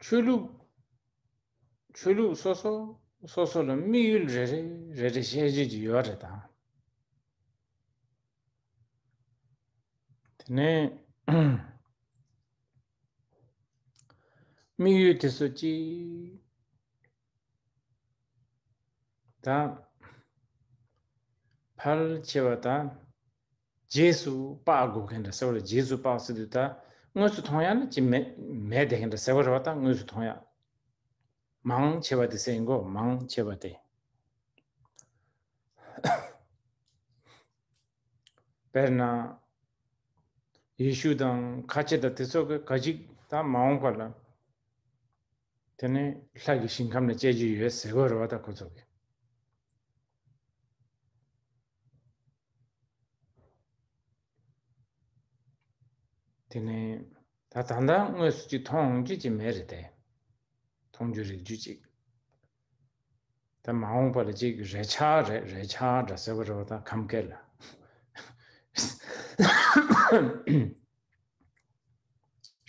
ཆོས་ལུགས་ཆོས་ལུགས་སོ་སོ་སོ་སོ་ལ་དམིགས་ཡུལ་རེ་རེ་རེ་རེ་བཤད་རྒྱུ་ཅི་ཡོད་རེད་དང་དེ་ནས་དམིགས་ཡུལ་དེ་ཚོ་ཅི་དང། ཕལ་ཆེ་བ་དང། རྗེས་སུ་དཔག་དགོས་མཁན་དང་ཟེར་བ་ལ་རྗེས་སུ་དཔག་སྲིད་དུ་ད་དངོས་སུ་མཐོང་ཡང་ན་ཅི་མེད་མེད་དེ་མཁན་དང་ཟེར་བ་རེ་བ་ད་དངོས་སུ་མཐོང་ཡང། མང་ཆེ་བ་དེ་སེམས་ཡིན་གོ་མང་ཆེ་བ་དེ། དཔེར་ན། ཡེ་ཤུ་དང་ཁ་ཆེ་དང་དེ་སོགས་ཀྱི་ག་ཅིག་ད་མ་འོངས་པ་ལ། དེ་ནས་ལྷ་ཀྱི་ཞིང་ཁམས་ལ་སྤྱད་རྒྱུ་ཡོད་ཟེར་བར་བ་དག་གོ་ཚོགས་ཀྱི། དེ་ནས་ད་ད་ལྟ་དངོས་སུ་ཅིག་མཐོང་རྒྱུ་ཅིག་མེད་རེད་དེ། མཐོང་རྒྱུ་རིག་རྒྱུ་ཅིག། ད་མ་འོངས་པ་ལ་ཅིག་རེ་ཆག་རེ་རེ་ཆག་འདྲ་ཟེར་བར་བ་དག་ཁམས་སྐད་ལ།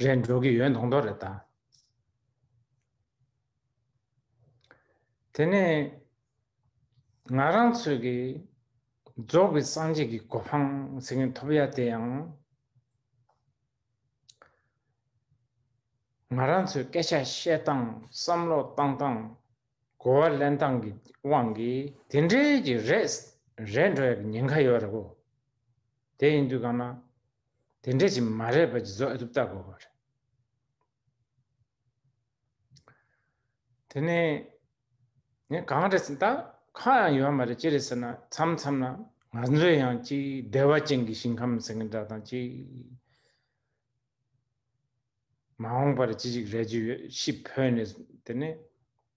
རེད་འགྲོ་གི་ཡོད་མདོག་མདོག་རེད་ད། དེ་ནས་ང་རང་ཚོས་ཀྱི་རྫོགས་པའི་སངས་རྒྱས་ཀྱི་གོ་འཕང་ཟེར་མཁན་ཐོབ་ཡ་དེ་ཡང་ང་རང་ཚོས་སྐད་ཆ་བཤད་སྟངས་བསམ་བློ་བཏང་སྟངས་གོ་བ་ལེན་སྟངས་ཀྱི་དབང་གིས་དེ་འདྲའི་གི་རེད་རེད་འགྲོ་ཡ་གི་ཉེན་ཁ་ཡོད་རེད་གོ། དེ་ཡིན་དུས་གང་ན་དེ་འདྲའི་གི་མ་རེད་པ་གི་བཟོ་ཨེ་ཐུབ་ལྟ་དགོས་པ་རེད། དེ་ནས་ངས་གང་རེད་ཟེར་ད་ཁ་ཡང་ཡོད་མ་རེད་ཅི་རེད་ཟེར་ན་མཚམས་མཚམས་ན་ང་ཚོས་ཡང་ཅིག་བདེ་བ་ཅན་གྱི་ཞིང་ཁམས་ཟེར་གི་འདྲ་དང་ཅིག་མ་འོངས་པར་ཅི་ཞིག་རེད་ཅིག་ཡོད་ཤི་འཕོས་ནས་དེ་ནས་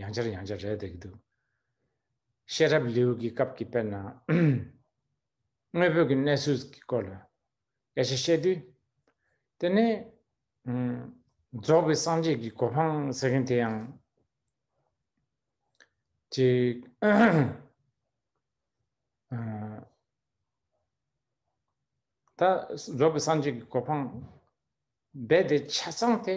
ཡང་བསྐྱར་ཡང་བསྐྱར་རེད་འདུག་ཤེས་རབ་ལེའུ་གི་སྐབས་ཀྱི་དཔེར་ན། དངོས་བོད་ཀྱི་གནས་ཚུལ་གྱི་སྐོར་ལ་དབྱེ་ཞིབ་བཤད་དུས། དེ་ནི། རྫོགས་པའི་སངས་རྒྱས་ཀྱི་གོ་འཕང་ཟེར་མཁན་དེ་ཡང། གཅིག། ད་རྫོགས་པའི་སངས་རྒྱས་ཀྱི་གོ་འཕང་རྦད་དེ་ཆ་ཚང་དེ།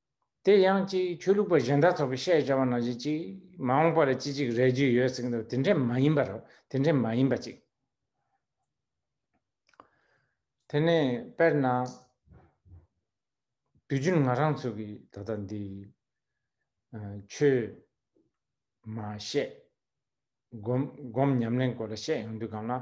དེ་ཡང་གཅིག་ཆོས་ལུགས་པ་གཞན་དག་ཚོགས་པའི་བཤད་བྱ་བ་ནང་བཞིན་གཅིག་མ་འོངས་པ་ལ་ཅི་ཅིག་རེག་རྒྱུ་ཡོད་ཟེར་གྱི་འདུག་དེ་འདྲས་མ་ཡིན་པ་རོ་དེ་འདྲས་མ་ཡིན་པ་གཅིག། དེ་ནས་དཔེར་ན། དུས་རྒྱུན་ང་རང་ཚོ་གིས་ད་ལྟ་འདི། ཆོས། མ་བཤད། སྒོམ་ཉམས་ལེན་སྐོར་ལ་བཤད་ཡོང་དུས་གང་ལ།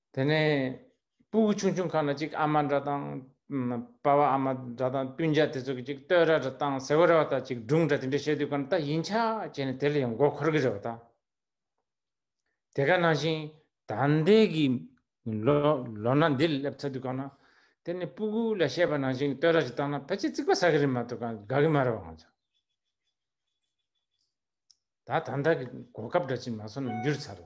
དེ་ནས་སྤུ་བུ་ཆུང་ཆུང་ཁ་ན་གཅིག་ཨ་མ་འདྲ་དང། དཔའ་བ་ཨ་མ་འདྲ་དང་བསྟུན་བྱ་དེ་ཚོ་གི་གཅིག་སྟོད་ར་འདྲ་དང་ཟེ་བོ་ར་བ་དང་གཅིག་སྒྲུང་འདྲ་དེ་འདྲ་བཤད་དུས་གང་ལྟ་ཡིན་ཆ་བྱས་ནས་དེ་ལ་ཡང་མགོ་འཁོར་གི་རེད་བ་ད། དེ་ག་ནང་བཞིན་ད་ལྟའི་གི་ལོ་ན་འདི་ལ་སླེབས་ཚར་དུས་གང་ན། དེ་ནས་སྤུ་བུ་ལ་བཤད་པ་ནང་བཞིན་གི་སྟོད་ར་ཞིག་བཏང་ན་ཕལ་ཆེར་རྩིག་པ་ཟ་གི་རེད་མ་གཏོགས་གང་དགའ་གི་མ་རེད་བ་ང་ཚོ། ད་ད་ལྟ་གི་གོ་སྐབས་འདྲ་གཅིག་མ་སོང་ན་འགྱུར་ཚར།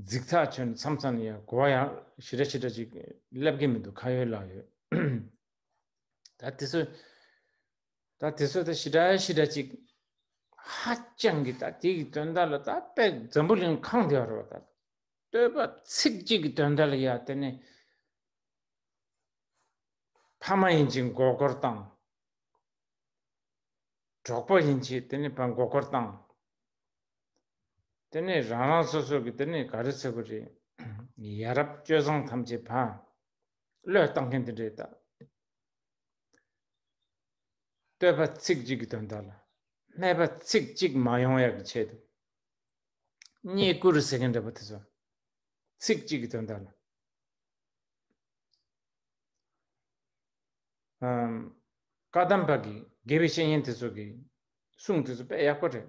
རྫིག་ཐག་ཆོད་ནས་མཚམས་མཚམས་ནས་ཡང་གོ་བ་ཡང་ཞི་དྲག་ཞི་དྲག་ཅིག་སླེབས་ཀྱི་མི་འདུག་ཁ་ཡོད་ལག་ཡོད་ད་དེ་ཚོ་ད་དེ་ཚོ་ད་ཞི་དྲག་ཞི་དྲག་ཅིག་ཧ་ཅང་གི་ད་དེ་གི་དོན་དག་ལ་ད་དཔེ་འཛམ་བུ་གླིང་གང་དེ་རོ་ད་སྟོད་པ་ཚིག་གཅིག་གི་དོན་དག་ལ་ཡ་དེ་ནི་ཕ་མ་ཡིན་ཅིག་མགོ་སྐོར་དང་གྲོགས་པོ་ཡིན་ཅིག་དེ་ནི་ཕ་མགོ་སྐོར་དང་དེ་ནས་རང་རང་སོ་སོ་གི་དེ་ནས་ག་རེ་ཚོད་པོ་རེད། ཡ་རབས་སྤྱོད་བཟང་ཐམས་ཅད་བག། བློས་བཏང་མཁན་དེ་འདྲས་དང། བསྟོད་པ་ཚིག་གཅིག་གི་དོན་དག་ལ། སྨད་པ་ཚིག་གཅིག་མ་ཡོང་ཡག་གི་ཆེད་དུ། རྙེད་བཀུར་ཟེར་མཁན་འདྲ་པོ་དེ་ཚོ། ཚིག་གཅིག་གི་དོན་དག་ལ། བཀའ་གདམས་པ་གི་དགེ་བའི་བཤེས་གཉེན་དེ་ཚོ་གི་གསུང་དེ་ཚོ་དཔེ་ཡག་པོ་རེད།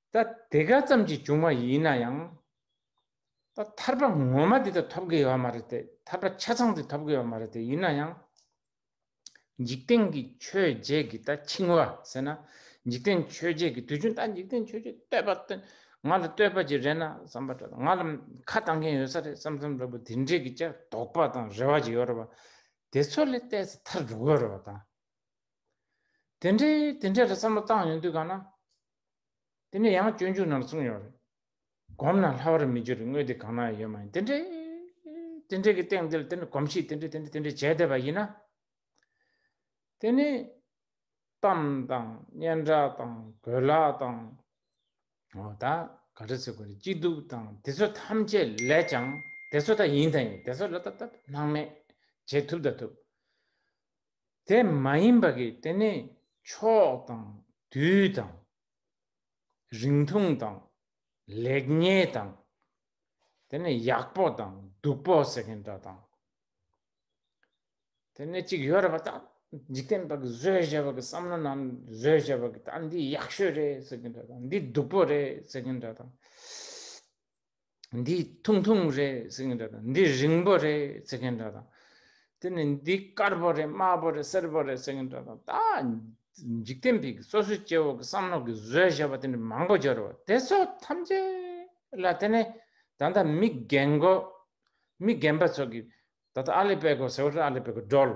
ད་དེ་ག་ཙམ་གྱིས་བྱུང་བ་ཡིན་ན་ཡང། ད་ཐར་པ་ངོ་མ་དེ་དག་ཐོབ་དགོས་ཡོད་མ་རེད་དེ། ཐར་པ་ཆ་ཚང་དེ་ཐོབ་དགོས་ཡོད་མ་རེད་དེ་ཡིན་ན་ཡང། འཇིག་རྟེན་གྱི་ཆོས་བརྒྱད་ཀྱི་ད་འཆིང་བ་ཟེར་ན། འཇིག་རྟེན་ཆོས་བརྒྱད་ཀྱི་དུས་ཆུང་ད་འཇིག་རྟེན་ཆོས་བརྒྱད་བསྟོད་པ་སྟོན། ང་ལ་བསྟོད་པ་ཅིག་རེད་ན་བསམ་པ་འདྲ་ང་ལ་ཁ་བཏང་མཁན་ཡོད་ས་རེད་བསམ་བསམ་འདྲ་པོ་དེ་འདྲའི་གི་ཅག་དོགས་པ་དང་རེ་བ་ཅིག་ཡོད་རེད་བ། དེ་ཚོ་ལས་བལྟས་ཚེ་ཐར་འགྲོ་དགོས་རེད་བ་དང། དེ་འདྲའི་དེ་འདྲའི་རེད་བསམ་བློ་བཏང་ཡོང་དུས་གང་ན། དེ་ནས་ཡང་སྤྱོད་འཇུག་ནང་གསུངས་ཡོད་རེད། བསྒོམས་ན་ལྷ་བར་མི་འགྱུར་བའི་དངོས་དེ་གང་ན་ཡོད་མ་ཡིན་དེ་འདྲའི་དེ་འདྲའི་གི་སྟེང་འདིར་དེ་འདྲ་གོམས་གཤིས་དེ་འདྲ་དེ་འདྲ་དེ་འདྲ་བྱས་བསྡད་པ་ཡིན་ན། དེ་ནི་གཏམ་དང་སྙན་གྲགས་དང་གོས་ལག་དང། འོ་ད་ག་རེ་ཟེར་དགོས་རེད་སྐྱིད་སྡུག་དང་དེ་ཚོ་ཐམས་ཅད་ལས་ཀྱང་དེ་ཚོ་ད་ཡིན་ད་ཡིན་དེ་ཚོ་ལ་ད་ད་སྣང་མེད་བྱེད་ཐུབ་ད་ཐུབ། དེ་མ་ཡིན་པ་གིས་དེ་ནི་ཕྱོགས་དང་དུས་དང། རིང་ཐུང་དང། ལེགས་ཉེས་དང། དེ་ནི་ཡག་པོ་དང་སྡུག་པོ་ཟེར་མཁན་འདྲ་དང། དེ་ནི་གཅིག་ཡོད་རེད་པ་ད་འཇིག་རྟེན་པ་བཟོས་བྱས་པ་གི་བསམ་བློ་ནང་བཟོས་བྱས་པ་གི་ད་འདི་ཡག་ཤོས་རེད་ཟེར་མཁན་འདྲ་དང་འདི་སྡུག་པོ་རེད་ཟེར་མཁན་འདྲ་དང། འདི་ཐུང་ཐུང་རེད་ཟེར་མཁན་འདྲ་དང་འདི་རིང་པོ་རེད་ཟེར་མཁན་འདྲ་དང་དེ་ནི་འདི་དཀར་པོ་རེད་དམར་པོ་རེད་སེར་པོ་རེད་ཟེར་མཁན་འདྲ་དང་ད་འཇིག་རྟེན་པའི་སོ་སོའི་སྐྱེ་བོ་གི་བསམ་བློ་གི་བཟོས་བཞག་པ་དེ་འདྲ་མང་པོ་སྦྱོར་བ་དེ་ཚོ་ཐམས་ཅད་ལ་དེ་ནི་ད་ལྟ་མི་རྒན་གོ་མི་རྒན་པ་ཚོ་གི་ད་ལྟ་ཨ་ལི་པེ་གོ་ཟེར་བ་ཨ་ལི་པེ་གོ་སྒྲོལ་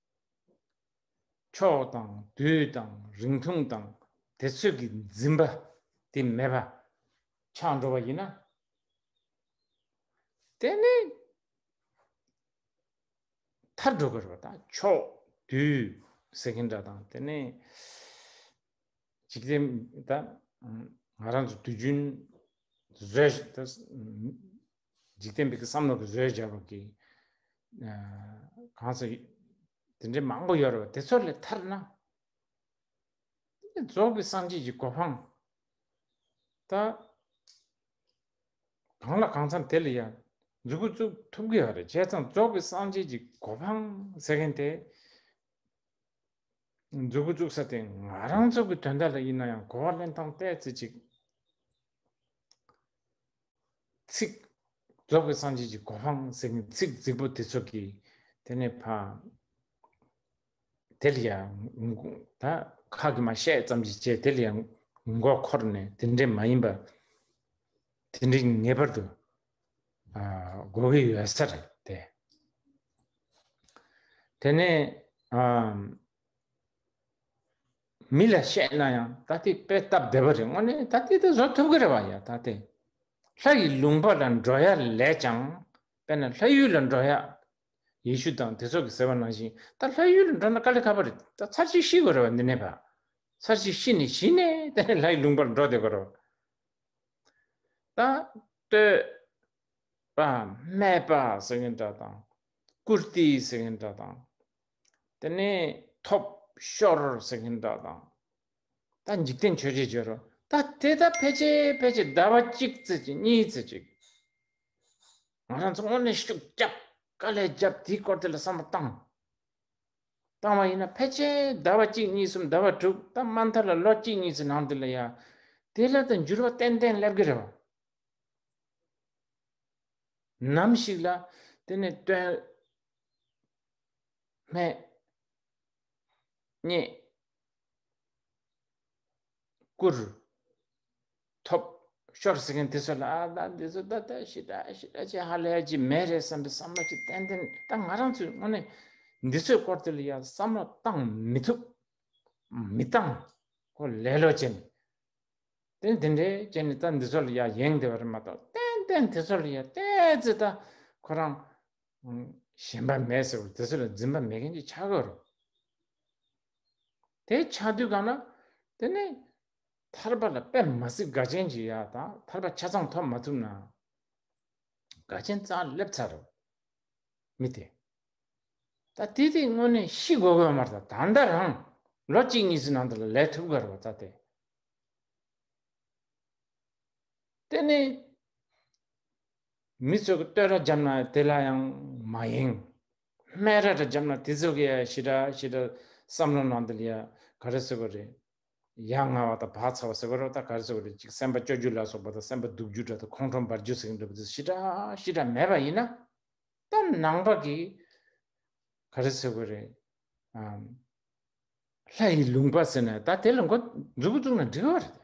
ཕྱོགས་དང་དུས་དང་རིང་ཐུང་དང་དེ་ཚོད་ཀྱི་འཛིན་པ་དེ་མེད་པ་ཆགས་འགྲོ་བ་ཡིན་ན། དེ་ནི་མཐར་འགྲོ་དགོས་རེད་དང་ཕྱོགས་དུས་ཟེར་གྱིན་འདྲ་དང་དེ་ནི་འཇིག་རྟེན་དང་ང་རང་ཚོ་དུས་རྒྱུན་བཟོས་འཇིག་རྟེན་པའི་བསམ་བློ་གི་བཟོས་བྱ་བ་གི་གང་ཟེར་དེ་འདྲའི་མང་པོ་ཡོད་རེད་བ་དེ་ཚོ་ལས་ཐར་ན་རྫོགས་པའི་སངས་རྒྱས་ཀྱི་གོ་འཕང་ད་གང་ལ་གང་འཚམ་དེ་ལ་ཡང་འཛུགས་སྐུ་བཙུགས་ཐུབ་གི་ཡོད་རེད་བྱས་ཙང་རྫོགས་པའི་སངས་རྒྱས་ཀྱི་གོ་འཕང་ཟེར་མཁན་དེ་འཛུགས་སྐུ་བཙུགས་ས་དེ་ང་རང་ཚོ་གི་དོན་དག་ལ་ཡིན་ན་ཡང་གོ་བ་ལེན་སྟངས་བལྟས་ཚེ་ཅིག་ཚིག། རྫོགས་པའི་སངས་རྒྱས་ཀྱི་གོ་འཕང་ཟེར་མཁན་ཚིག་རྫིག་པོ་དེ་ཚོ་གིས་དེ་ནས་ཕམ། དེ་ལ་ཡང་ད་ཁག་གིས་མ་བཤད་ཙམ་གྱིས་བྱས་དེ་ལ་ཡང་མགོ་འཁོར་ནས་དེ་འདྲའི་མ་ཡིན་པ། དེ་འདྲའི་ངེས་པར་དུ་གོ་གི་ཡོད་ས་རེད་དེ། དེ་ནས། མི་ལ་བཤད་ན་ཡང་ད་ལྟའི་དཔེ་སྟབས་བདེ་བ་རེད་དངོས་གནས་ད་ལྟའི་དུས་བཟོ་ཐུབ་ཀྱི་རེད་བ་ཡ་ད་ལྟའི་ལྷ་ཡི་ལུང་པ་ལ་འགྲོ་ཡ་ལས་ཀྱང་དཔེར་ན་ལྷ་ཡུལ་ལ་འགྲོ་ཡ་ཡེ་ཤུ་དང་དེ་ཚོ་གི་ཟེར་བ་ནང་བཞིན་ད་ལྷ་ཡུལ་ལ་འགྲོ་ན་དཀའ་ལས་ཁ་པ་རེད་ད་ཚར་གཅིག་ཤི་དགོས་རེད་བ་འདི་ནས་བ་ཚར་གཅིག་ཤི་ནས་གཞི་ནས་དེ་ནས་ལྷ་ཡི་ལུང་པ་ལ་འགྲོ་བསྡད་དགོས་རེད་བ་ད་སྟོད་པ་སྨད་པ་ཟེར་གྱི་འདྲ་དང་ཀུར་ཏི་ཟེར་གྱི་འདྲ་དང་དེ་ནས་ཐོབ། ཤོར་ཟེར་མཁན་དག་དང། ད་འཇིག་རྟེན་ཆོས་རྗེས་བརྗོད་རོགས། ད་དེ་དག་ཕལ་ཆེར་ཕལ་ཆེར་ཟླ་བ་གཅིག་ཚེ་གཅིག་གཉིས་ཚེ་གཅིག། ང་རང་ཚོ་དངོས་གནས་ཤུགས་རྒྱབ་དཀའ་ལས་རྒྱབ་དེའི་སྐོར་དེ་ལ་བསམ་བློ་བཏང། བཏང་བ་ཡིན་ན་ཕལ་ཆེར་ཟླ་བ་གཅིག་གཉིས་གསུམ་ཟླ་བ་དྲུག་ད་དམའ་མཐར་ལ་ལོ་གཅིག་གཉིས་ཚོའི་ནང་དེ་ལ་ཡ། དེ་ལ་དང་འགྱུར་བ་ཏན་ཏན་སླེབས་ཀྱི་རེད་བ། ནམ་ཞིག་ལ་དེ་ནས་དོན། སྨད། སྙེད། བསྐུར། ཐོབ། ཤོར་ཟེར་མཁན་དེ་ཚོ་ལ་ཨ་ད་འདི་ཚོ་ད་ད་ཞི་ད་ཞི་ད་ཅེས་ཧ་ལས་ཀྱི་མེད་རེད་བསམ་པའི་བསམ་བློ་ཅིག་གཏན་གཏན་ད་ང་རང་ཚོས་དངོས་གནས་འདི་ཚོའི་སྐོར་དེ་ལ་ཡང་བསམ་བློ་བཏང་མི་ཐུབ། མི་བཏང། ཁོ་ལེ་ལོ་བྱས་ནས། དེ་ནས་དེ་འདྲས་བྱས་ནས་ད་འདི་ཚོ་ལ་ཡང་ཡེངས་བསྡད་པ་རེད་མ་གཏོགས་ཏན་ཏན་དེ་ཚོ་ལ་ཡང་བལྟས་ཚེ་ད་ཁོ་རང། ཞེན་པ་མེད་ཟེར་བ་དེ་ཚོ་ལ་འཛིན་པ་མེད་མཁན་གྱི་ཆ་ག་རུ། དེ་ཆ་དུས་གང་ན་དེ་ནི་ཐར་པ་ལ་པད་མ་སི་ག་ཅན་གྱི་ཡ་དང་ཐར་པ་ཆ་ཚང་ཐོབ་མ་ཐུབ་ན་དགའ་ཆེན་རྩ་སླེབས་ཚར་རུ་མི་དེ། ད་དེ་དེ་དངོས་གནས་ཤི་དགོས་དགོས་མ་རེད་ད་ད་ལྟ་རང་ལོ་གཅིག་གཉིས་ཚོའི་ནང་དུ་ལས་ཐུབ་ག་རུ་བ་ད་དེ། དེ་ནི་མི་ཚོས་ཀྱི་སྟོད་ར་འཇམ་ན་དེ་ལ་ཡང་མ་ཡེངས། སྨད་ར་དྲ་འཇམ་ན་དེ་ཚོས་ཀྱི་ཡང་ཞི་དྲག་ཞི་དྲག་བསམ་བློ་ནང་དུ་ལ་ཡང་ག་རེ་ཟེར་བ་རེད། ཡ་ང་བ་དང་བག་ཚ་བ་ཟེར་བ་རོ་ད་ག་རེ་ཟེར་བ་རེད་ཅིག་སེམས་པ་སྐྱོ་རྒྱུ་ལ་སོགས་པ་དང་སེམས་པ་སྡུག་རྒྱུ་འདྲ་དང་ཁོང་ཁྲོ་འབར་རྒྱུ་ཟེར་གྱི་འདྲ་བ་དེ་ཞི་དྲག་ཞི་དྲག་མེད་པ་ཡིན་ན། ད་ནང་པ་གི་ག་རེ་ཟེར་བ་རེད། ལྷ་ཡི་ལུང་པ་ཟེར་ན་ད་དེ་ལ་འགོ་འཛུགས་པོ་བཙུགས་ན་འགྲིག་གི་བ་རེད།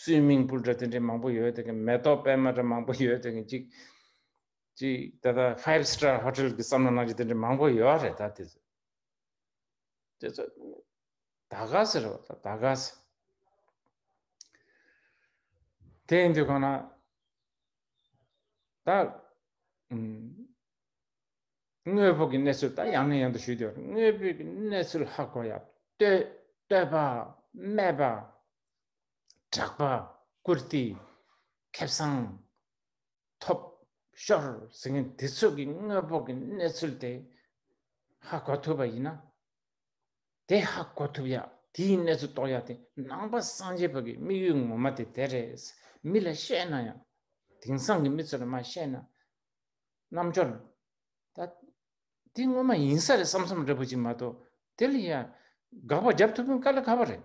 སུའི་སྨིན་བུ་འདྲ་དེ་འདྲའི་མང་པོ་ཡོད་དགོས་མེ་ཏོག་པད་མ་འདྲ་མང་པོ་ཡོད་དགོས་ཅིག། ཅིག་ད་ལྟ five star hotel གི་བསམ་བློ་གནང་རྒྱུ་དེ་འདྲའི་མང་པོ་ཡོད་རེད་ད་དེ་ཚོ། དེ་ཚོ་ད་ག་ཟེར་རོ་ད་ད་ག་ཟེར། དེ་ཡིན་དུས་གང་ན་ད་དངོས་པོ་གི་གནས་ཚུལ་ད་ཡང་ནས་ཡང་དུ་ཞུས་དུས་དངོས་པོའི་གནས་ཚུལ་ཧ་གོ་ཡ། བསྟོད་བསྟོད་པ་སྨད་པ་གྲགས་པ་བཀུར་སྟི་ཁེ་བཟང་ཐོབ་ཤོར་ཟེར་མཁན་དེ་ཚོ་གི་དངོས་པོ་གི་གནས་ཚུལ་དེ་ཧ་གོ་ཐུབ་པ་ཡིན་ན་དེ་ཧ་གོ་ཐུབ་ཡ་དེའི་གནས་ཚུལ་རྟོགས་ཡ་དེ་ནང་པ་སངས་རྒྱས་བོད་ཀྱི་དམིགས་ཡུལ་ངོ་མ་དེ་དེ་རེད་མི་ལ་བཤད་ན་ཡང་དེང་སང་གི་མི་ཚོ་ལ་མ་བཤད་ན་རྣམ་འབྱོར་ད་དེ་དངོས་མ་ཡིན་ས་རེད་བསམ་བསམ་རེད་པོ་ཅིག་མ་གཏོགས་དེ་ལ་ཡ་དགག་པ་རྒྱབ་ཐུབ་མཁན་ག་ལ་ག་བ་རེད།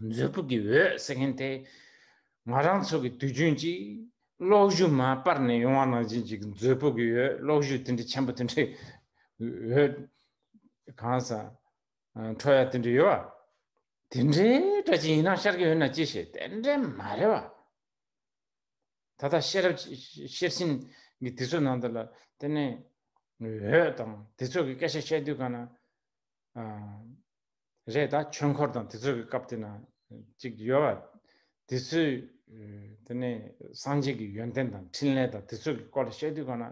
མཛོད་སྤུ་གི་འོད་ཟེར་མཁན་དེ་ང་རང་ཚོ་གི་དུས་རྒྱུན་གྱི་གློག་བཞུ་མ་སྤར་ནས་ཡོང་བ་ནང་བཞིན་གྱི་མཛོད་སྤུ་གི་འོད་གློག་བཞུ་དེ་འདྲའི་ཆེན་པོ་དེ་འདྲའི་འོད་གང་ཟག་འཕྲོ་ཡ་དེ་འདྲ་ཡོད་བ། དེ་འདྲའི་སྒྲ་ཅན་ཡིན་ན་ཤར་གྱི་འོད་ན་ཅི་ཞེས་དེ་འདྲའི་མ་རེད་བ། ད་ལྟ་ཤེས་རབ་ཤེར་ཕྱིན་གྱི་དུས་ཚོད་ནང་དུ་ལ་དེ་ནས་འོད་དང་དེ་ཚོ་གི་སྐད་ཆ་བཤད་དུས་གང་ན། རེད་ད་ཆོས་འཁོར་དང་དེ་ཚོའི་གི་སྐབས་དེ་ན་ཅིག་ཡོད་བ། དེ་ཚོའི་དེ་ནས་སངས་རྒྱས་ཀྱི་ཡོན་ཏན་དང་ཕྲིན་ལས་དང་དེ་ཚོའི་གི་སྐོར་ལ་བཤད་དུས་གང་ན།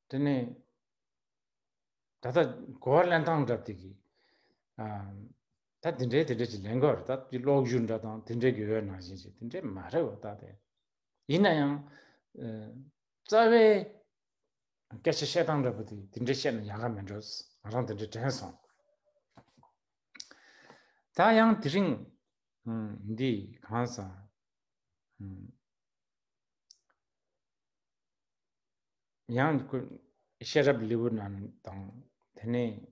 དེ་ནས་ད་ལྟ་གོ་བ་ལེན་སྟངས་འདྲ་དེ་གི། ད་དེ་འདྲའི་དེ་འདྲའི་ཅིག་ལེན་དགོས་རེད་ད་དེ་ཀློག་རྒྱུ་འདྲ་དང་དེ་འདྲའི་གི་འོད་ནང་བཞིན་ཅིག་དེ་འདྲའི་མ་རེད་བ་ད་དེ། ཡིན་ན་ཡང། རྩ་བའི་སྐད་ཆ་བཤད་སྟངས་རེད་པོ་དེ་དེ་འདྲ་བཤད་ན་ཡག་ག་མི་འགྲོ། ང་རང་དེ་འདྲ་དྲན་སོང། ད་ཡང་དེ་རིང་འདི་གང་ས་ཡང་ཤེས་རབ་ལེ་བུ་རྣམས་དང་དེ་ནས་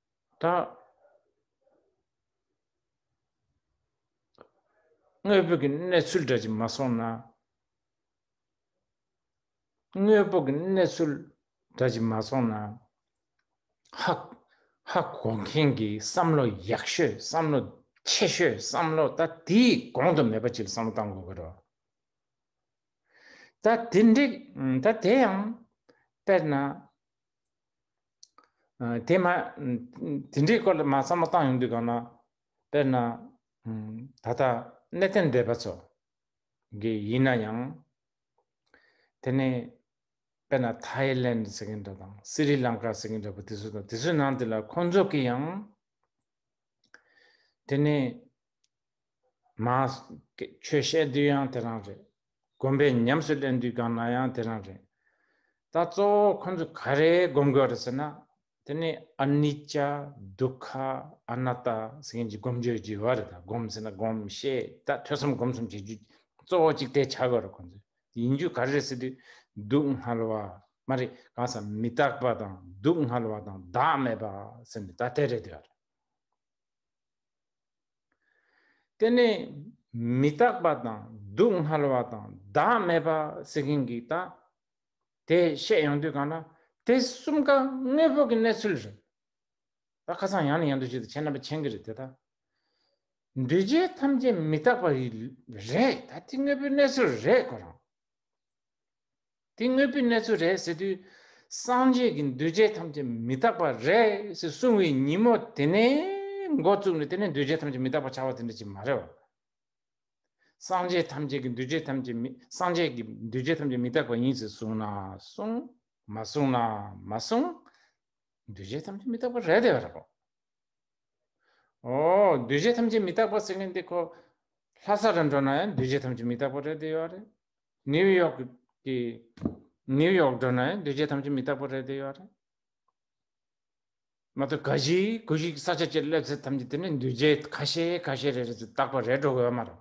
དང། དངོས་པོ་གི་གནས་ཚུལ་འདྲ་གཅིག་མ་སོང་ན། དངོས་པོ་གི་གནས་ཚུལ་འདྲ་གཅིག་མ་སོང་ན། ཧ་ཧ་གོ་མཁན་གྱི་བསམ་བློ་ཡག་ཤོས་བསམ་བློ་ཆེ་ཤོས་བསམ་བློ་ད་དེའི་གོང་དུ་མེད་པ་གཅིག་ལ་བསམ་བློ་བཏང་དགོས་ཀྱི་རེད། ད་དེ་འགྲིག་ད་དེ་ཡང་དཔེར་ན། དེ་མ་དེ་འདྲའི་སྐོར་ལ་མ་བསམ་བློ་བཏང་ཡོང་དུས་གང་ན་དཔེར་ན་ད་ལྟ་གནས་གཏན་སྡེ་པ་ཚོ་གི་ཡིན་ན་ཡང་དེ་ནི་དཔེར་ན་ཐའི་ལེན་ཟེར་གྱི་འདྲ་དང་སི་རི་ལང་ཀ་ཟེར་གྱི་འདྲ་བུ་དེ་ཚོ་དང་དེ་ཚོའི་ནང་དེ་ལ་ཁོང་ཚོ་གི་ཡང་དེ་ནི་མ་ཆོས་བཤད་དུས་ཡང་དེ་རང་རེད་བསྒོམ་པའི་ཉམས་སུ་ལེན་དུས་གང་ན་ཡང་དེ་རང་རེད། ད་གཙོ་བོ་ཁོང་ཚོས་ག་རེ་བསྒོམ་དགོས་རེད་ཟེར་ན། དེ་ནི Anicca། སྡུག་ཁ། Anatta། ཟེར་མཁན་གྱི་བསྒོམ་བྱའི་རྒྱུ་བ་རེད་ད་བསྒོམ་ཟེར་ན་བསྒོམ་ཤེས་ད་ཐོས་བསམ་སྒོམ་གསུམ་བྱེད་རྒྱུ་གཙོ་བོ་གཅིག་དེ་བྱ་དགོས་རེད་ཁོང་ཚོས་ཡིན་རྒྱུ་ག་རེ་རེད་ཟེར་དུས་སྡུག་བསྔལ་བ་མ་རེད་གང་ས་མི་རྟག་པ་དང་སྡུག་བསྔལ་བ་དང་བདག་མེད་པ་ཟེར་ནས་ད་དེ་རེད་བསྡད་པ་རེད། དེ་ནས་མི་རྟག་པ་དང་སྡུག་བསྔལ་བ་དང་བདག་མེད་པ་སེལ་མཁན་གྱི་རྟགས་དེ་བཤད་ཡོང་དུས་གང་ལྟར་དེ་གསུམ་ཀ་དངོས་པོ་གི་གནས་ཚུལ་རེད། ད་ཁ་སང་ཡང་ནས་ཡང་འདུ་བྱེད་དུ་བྱས་རྣམ་པ་མཁྱེན་གྱི་རེད་དེ་དག་འདུས་བྱས་ཐམས་ཅད་མི་རྟག་པ་རེད་ད་དེ་དངོས་པོའི་གནས་ཚུལ་རེད་ཁོ་རང། དེ་དངོས་པོའི་གནས་ཚུལ་རེད་ཟེར་དུས། སངས་རྒྱས་ཀྱི་འདུས་བྱས་ཐམས་ཅད་མི་རྟག་པ་རེད་ཟེར་གསུང་བའི་ཉིན་མོ་དེ་ནས་མགོ་བཙུགས་ནས་དེ་ནས་འདུས་བྱས་ཐམས་ཅད་མི་རྟག་པར་བྱ་བ་དེ་འདྲ་ཅིག་མ་རེད་བ། སངས་རྒྱས་ཐམས་ཅད་ཀྱི་འདུས་བྱས་ཐམས་ཅད་མི་སངས་རྒྱས་ཀྱི་འདུས་བྱས་ཐམས་ཅད་མི་རྟག་པ་ཡིན་ཟེར་གསུང་ན་གསུང། མ་གསུང་ན་མ་གསུང། འདུས་བྱས་ཐམས་ཅད་མི་རྟག་པ་རེད་དེ། ཨོ། འདུས་བྱས་ཐམས་ཅད་མི་རྟག་པ་ཟེར་མཁན་དེ་ཁོ། ལྷ་ས་རུ་འགྲོ་ན་ཡང་འདུས་བྱས་ཐམས་ཅད་མི་རྟག་པ་རེད་དེ་ཡོད་རེད། ནིའུ་ཡོག་གི་ནིའུ་ཡོག་འགྲོ་ན་འདུས་བྱས་ཐམས་ཅད་མི་རྟག་པ་རེད་དེ་ཡོད་རེད་མ་ཏོ་ག་གཞི་གུ་གཞི་ས་ཆ་བཅས་སླེབས་ཚེ་ཐམས་ཅད་དེ་ནི་འདུས་བྱས་ཁ་ཤས་ཁ་ཤས་རེ་རེ་ཚོ་རྟག་པ་རེད་འགྲོ་གི་ཡོད་མ་རེད་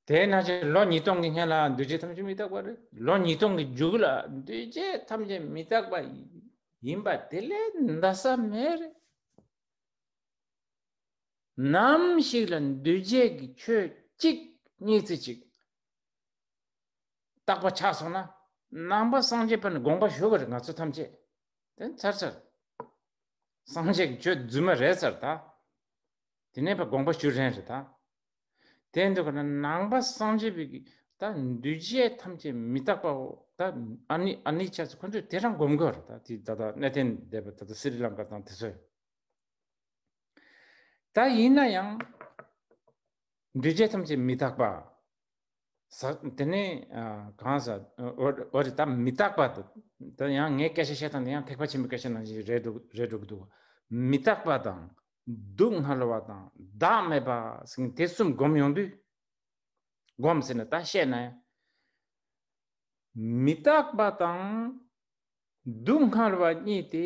དེ་ན་ཅི་ལོ་ཉིས་སྟོང་གི་སྔན་ལ་འདུས་བྱས་ཐམས་ཅད་མི་རྟག་པ་རེད་ལོ་ཉིས་སྟོང་གི་མཇུག་ལ་འདུས་བྱས་ཐམས་ཅད་མི་རྟག་པ་ཡིན་པ་དེ་ལས་འདའ་ས་མེད་རེད་ནམ་ཞིག་ལ་འདུས་བྱས་ཀྱི་ཆོས་གཅིག་གཉིས་རྩེ་གཅིག་བརྟག་པ་ཆགས་སོང་ན་ནང་པ་སངས་རྒྱས་པ་ནི་དགོངས་པ་ཞུ་བར་ང་ཚོ་ཐམས་ཅད་དེ་ཚར་ཚར་སངས་རྒྱས་ཀྱི་ཆོས་རྫུན་མ་རེད་ཚར་ད་དེ་ནས་པ་དགོངས་པ་ཞུ་རན་རེད་ད་དེ་འདུག་ག་ན་ནང་པ་སངས་རྒྱས་པའི་ད་འདུས་བྱས་ཐམས་ཅད་མི་རྟག་པ་འོ་ད་ཨཱནི་ཨཱནི་ཆ་ཚ་ཁོ་ཚོས་དེ་རང་སྒོམ་དགོས་རེད་ད་དེ་ད་ད་གནས་བརྟན་སྡེ་པ་ད་ད་སི་རི་ལང་ཀ་དང་དེ་ཚོས། ད་ཡིན་ན་ཡང་འདུས་བྱས་ཐམས་ཅད་མི་རྟག་པ། དེ་ནས་གང་ཟ་འོ་རེད་ད་མི་རྟག་པ་དང་ཡང་ངས་སྐད་ཆ་བཤད་སྟངས་དེ་ཡང་ཐེག་པ་ཆེན་པོའི་སྐད་ཆ་ནང་བཞིན་རེད་འགྲོ་གི་འདུག་མི་རྟག་པ་དང་སྡུག་བསྔལ་བ་དང་བདག་མེད་པ་ཟིན་དེ་གསུམ་བསྒོམ་ཡོང་དུས། བསྒོམ་ཟེར་ན་ད་བཤད་ན་ཡང། མི་རྟག་པ་དང་སྡུག་བསྔལ་བ་གཉིས་དེ་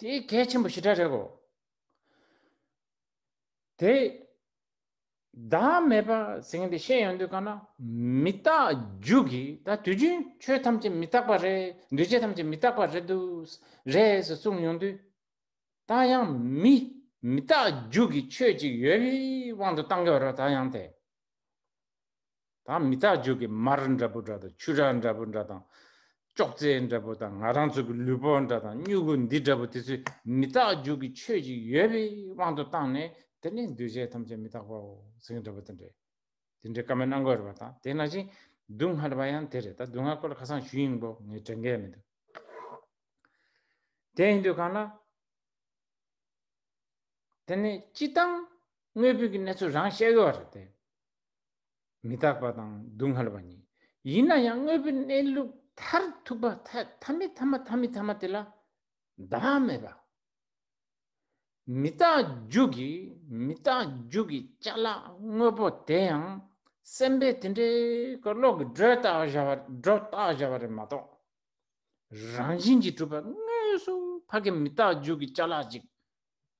དེ་གལ་ཆེན་པོ་ཞེ་དྲག་རེད་གོ། དེ། བདག་མེད་པ་ཟིན་ཏེ་ཤེས་ཡོང་དུས་གང་ན་མི་རྟག་རྒྱུ་གི་ད་དུས་རྒྱུན་ཆོས་ཐམས་ཅད་མི་རྟག་པ་རེད་འདུས་བྱས་ཐམས་ཅད་མི་རྟག་པ་རེད་དུ་རེད་ཟེར་གསུངས་ཡོང་དུས། ད་ཡང་མི་མི་རྟག་རྒྱུ་གི་ཆོས་ཅིག་ཡོད་པའི་དབང་དུ་གཏང་གི་ཡོད་རོགས་ད་ཡང་དེ། དང་མི་རྟག་འཇུག་གི་མར་འདྲ་པོ་འདྲ་དང་ཆུ་རགས་འདྲ་པོ་འདྲ་དང། ཅོག་ཙེ་འདྲ་པོ་དང་ང་རང་ཚོ་གི་ལུས་པོ་འདྲ་དང་སྨྱུ་གུ་འདི་འདྲ་པོ་དེ་ཚོས་མི་རྟག་འཇུག་གི་ཆོས་ཅིག་ཡོད་པའི་དབང་དུ་བཏང་ནས་དེ་ནི་འདུས་བྱས་ཐམས་ཅད་མི་རྟག་པའོ་ཟེར་གྱི་འདྲ་པོ་དེ་འདྲས། དེ་འདྲའི་བཀའ་མའི་གནང་སྒོ་རེད་པ་དང་དེས་ན་ཅིང་སྡུག་བསྔལ་བ་ཡང་དེ་རེད་ད་སྡུག་བསྔལ་སྐོར་ལ་ཁ་སང་ཞུས་ཡིན་གོ་ངས་དྲན་གལ་མི་འདུག་དེ་ཡིན་དུས་གང་ལ། དེ་ནི་སྤྱི་བཏང་དངོས་པོའི་གི་གནས་ཚུལ་རང་བཤད་གི་བ་རེད་དེ། མི་རྟག་པ་དང་སྡུག་བསྔལ་བ་ཉིད་ཡིན་ན་ཡང་དངོས་པོའི་གནས་ལུགས་མཐར་ཐུག་པ་ཐ་མི་ཐ་མ་ཐ་མི་ཐ་མ་དེ་ལ་བདག་མེད་པ། མི་རྟག་རྒྱུ་གི་མི་རྟག་རྒྱུ་གི་བཅའ་ལག་དངོས་པོ་དེ་ཡང་སེམས་པས་དེ་འདྲའི་གི་བློ་གི་སྒྲོས་བཏགས་བཞག་པ་སྒྲོ་བཏགས་བཞག་པ་རེད་མ་གཏོགས། རང་བཞིན་གྱིས་གྲུབ་པ་དངོས་སུ་ཕ་གི་མི་རྟག་རྒྱུ་གི་བཅའ་ལག་ཅིག་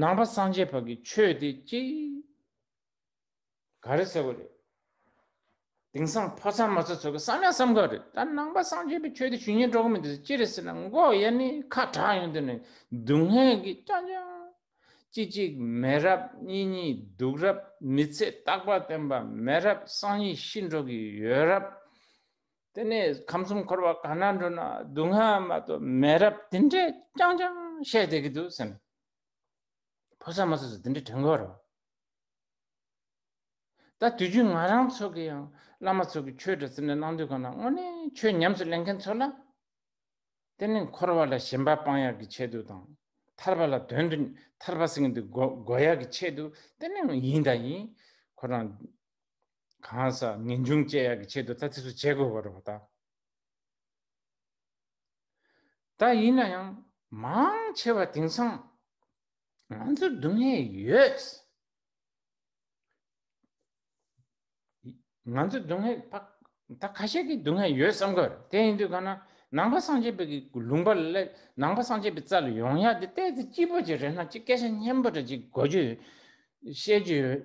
ནང་པ་སངས་རྒྱས་བར་གྱི་ཆོས་དེ་ཅི། ག་རེ་ཟེར་བ་རེད། དེང་སང་ཕོ་ཚང་མ་ཚོ་ཚོ་གི་བསམ་ཡ་བསམ་ག་རེད་ད་ནང་པ་སངས་རྒྱས་པའི་ཆོས་དེ་ཞུ་ཉན་སྤྲོ་གི་མི་འདུག་ཅི་རེད་ཟེར་ན་མགོ་ཡ་ནི་ཁ་གྲག་ཡོང་དུས་ནས་སྡུག་བསྔལ་གི་སྐྱང་སྐྱང། ཅིག་ཅིག་མེད་རབས་གཉིས་གཉིས་སྡུག་རབས་མི་ཚེ་རྟག་པར་བརྟན་པ་མེད་རབས་སང་ཉིན་ཤི་འགྲོ་གི་ཡོད་རབས། དེ་ནས་ཁམས་གསུམ་འཁོར་བ་གང་ན་འགྲོ་ན་སྡུག་བསྔལ་མ་གཏོགས་མེད་རབས་དེ་འདྲས་རྐྱང་རྐྱང་བཤད་བསྡད་ཀྱི་འདུག་སེམས། ཕོ་སར་མོ་སར་སུ་དེ་འདྲས་དྲན་དགོས་རོ། ད་དུས་རྒྱུན་ང་རང་ཚོ་གི་ཡང་བླ་མ་ཚོ་གི་ཆོས་འདྲ་ཟེར་ནས་གནང་དུས་གང་ན་དངོས་གནས་ཆོས་ཉམས་སུ་ལེན་མཁན་ཚོ་ལ། དེ་ནས་འཁོར་བ་ལ་ཞེན་པ་སྤང་ཡག་གི་ཆེད་དུ་དང། ཐར་པ་ལ་དོན་དུ་ཐར་པ་སེང་གེ་འདི་འགོ་ཡག་གི་ཆེད་དུ་དེ་ནས་ཡིན་དང་ཡིན་ཁོ་རང། གང་ཟག་ངེས་འབྱུང་དཔྱད་ཡག་གི་ཆེད་དུ་ཐ་ཚིག་སུ་བྱེད་དགོས་པ་རེད་བ་ད། ད་ཡིན་ན་ཡང་མང་ཆེ་བ་དེང་སང་ང་ཚོར་སྡུག་བསྔལ་ཡོད། ང་ཚོར་སྡུག་བསྔལ་ད་ད་ཁ་ཤས་ཀྱིས་སྡུག་བསྔལ་ཡོད་བསམ་གི་རེད་དེ་ཡིན་དུས་གང་ན་ནང་པ་སངས་རྒྱས་པའི་གི་ལུང་པ་ལས་ནང་པ་སངས་རྒྱས་པའི་རྩ་ལ་ཡོང་ཡག་དེ་ལྟས་དེ་སྐྱིད་པོ་ཅིག་རེད་ན་ཅིག་སྐད་ཆ་སྙན་པོ་རེ་ཅིག་གོ་རྒྱུ་ཡོད་བཤད་རྒྱུ་ཡོད།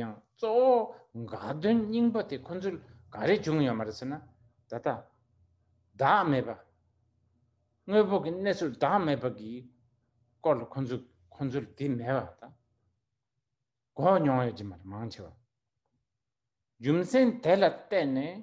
ཡང་གཙོ་བོ་དགའ་སྟོན་རྙིང་པ་དེ་ཁོ་ཚོས་ག་རེ་བྱུང་ཡོད་མ་རེད་ཟེར་ན། ད་ལྟ་བདག་མེད་པ། དངོས་པོ་གི་གནས་ཚུལ་བདག་མེད་པ་གི་སྐོར་ལ་ཁོ་ཚོས་ཁོ་ཚོར་དེ་མེད་པ་དང། གོ་མྱོང་ཡོད་ཀྱི་མ་རེད་མང་ཆེ་བ། རྒྱུ་མཚན་དེ་ལ་བརྟེན་ནས་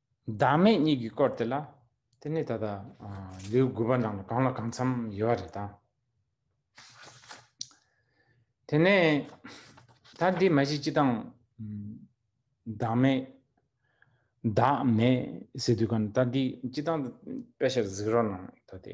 བདག་མེད་གཉིས་ཀྱི་སྐོར་དེ་ལ། དེ་ནི་ད་ལྟ་ལེའུ་དགུ་པ་ནང་ལ་གང་ལ་གང་འཚམ་ཡོད་པ་རེད་ད། དེ་ནས་ད་འདི་མ་གཞི་སྤྱི་དང། བདག་མེད། བདག་མེད་ཟེར་དུས་ག་ནི་ད་འདི་སྤྱི་དང། དཔེ་ཞར་གཟིགས་རོགས་གནང་ད་དེ།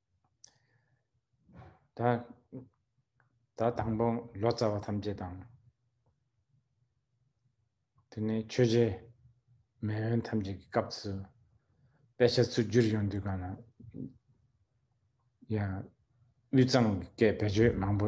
ད་ད་དང་པོ་ལོ་ཙཱ་བ་ཐམས་ཅད་དང་དེ་ནས་ཆོས་རྗེ་མེ་ཡོན་ཐམས་ཅད་ཀྱི་སྐབས་སུ་དཔེ་ཆ་ཚུར་བསྒྱུར་ཡོང་དུས་གང་ན་ཡང་དབུས་གཙང་སྐད་བེད་སྤྱོད་མང་པོ་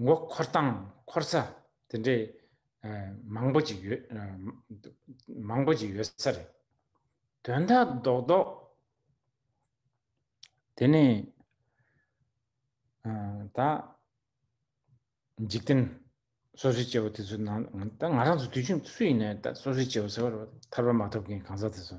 མགོ་འཁོར་དང་འཁོར་ས་དེ་འདྲའི་མང་པོ་ཅིག་ཡོད། མང་པོ་ཅིག་ཡོད་ས་རེད། དོན་དག་རྡོག་རྡོག་དེ་ནི། ད། འཇིག་རྟེན་སོ་སོའི་སྐྱེ་བོ་དེ་ཚོའི་ནང་ང་ད་ང་རང་ཚོ་དུས་ཆུང་སུ་ཡིན་ན་ད་སོ་སོའི་སྐྱེ་བོ་ཟེར་བ་རེད། ཐར་པ་མ་ཐོབ་མཁན་གང་ཟག་དེ་ཚོ།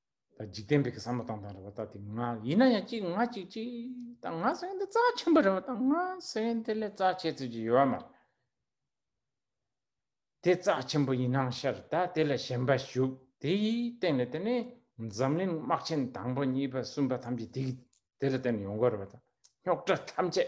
ད་འཇིག་རྟེན་པའི་གསང་བ་དང་དང་རེ་བ་ད་དེ་ང་ཡིན་ན་ཡང་གཅིག་ང་གཅིག་གཅིག་ད་ང་སེམས་དེ་རྩ་ཆེན་པོ་རེ་བ་ད་ང་སེམས་དེ་ལས་རྩ་ཆེ་ཚུལ་གྱི་ཡོད་མ་རེད་དེ་རྩ་ཆེན་པོ་ཡིན་ནང་ཤར་ད་དེ་ལ་ཞེན་པ་ཞུགས་དེའི་སྟེང་ལ་དེ་ནི་འཛམ་གླིང་དམག་ཆེན་དང་པོ་གཉིས་པ་གསུམ་པ་ཐམས་ཅད་དེ་དེ་ལ་བརྟེན་ནས་ཡོང་གི་རེ་བ་ད་རྙོག་དྲ་ཐམས་ཅད་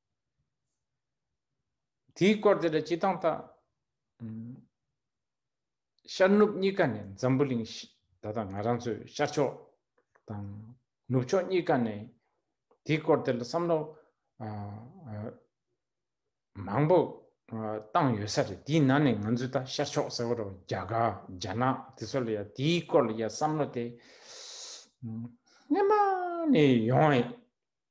དེའི་སྐོར་དེ་འདྲ་སྤྱི་སྟངས་དང། ཤར་ནུབ་གཉིས་ཀ་ནས་འཛམ་བུ་གླིང་ད་ལྟ་ང་རང་ཚོའི་ཤར་ཕྱོགས་དང་ནུབ་ཕྱོགས་གཉིས་ཀ་ནས་དེའི་སྐོར་དེ་ལ་བསམ་བློ་མང་པོ་བཏང་ཡོད་ས་རེད་དེའི་ནང་ནས་ང་ཚོས་ད་ཤར་ཕྱོགས་ཟེར་བ་རོ་རྒྱ་གར་རྒྱ་ནག་དེ་ཚོ་ལ་ཡང་དེའི་སྐོར་ལ་ཡང་བསམ་བློ་དེ་རྔན་པ་ནས་ཡོང་བས་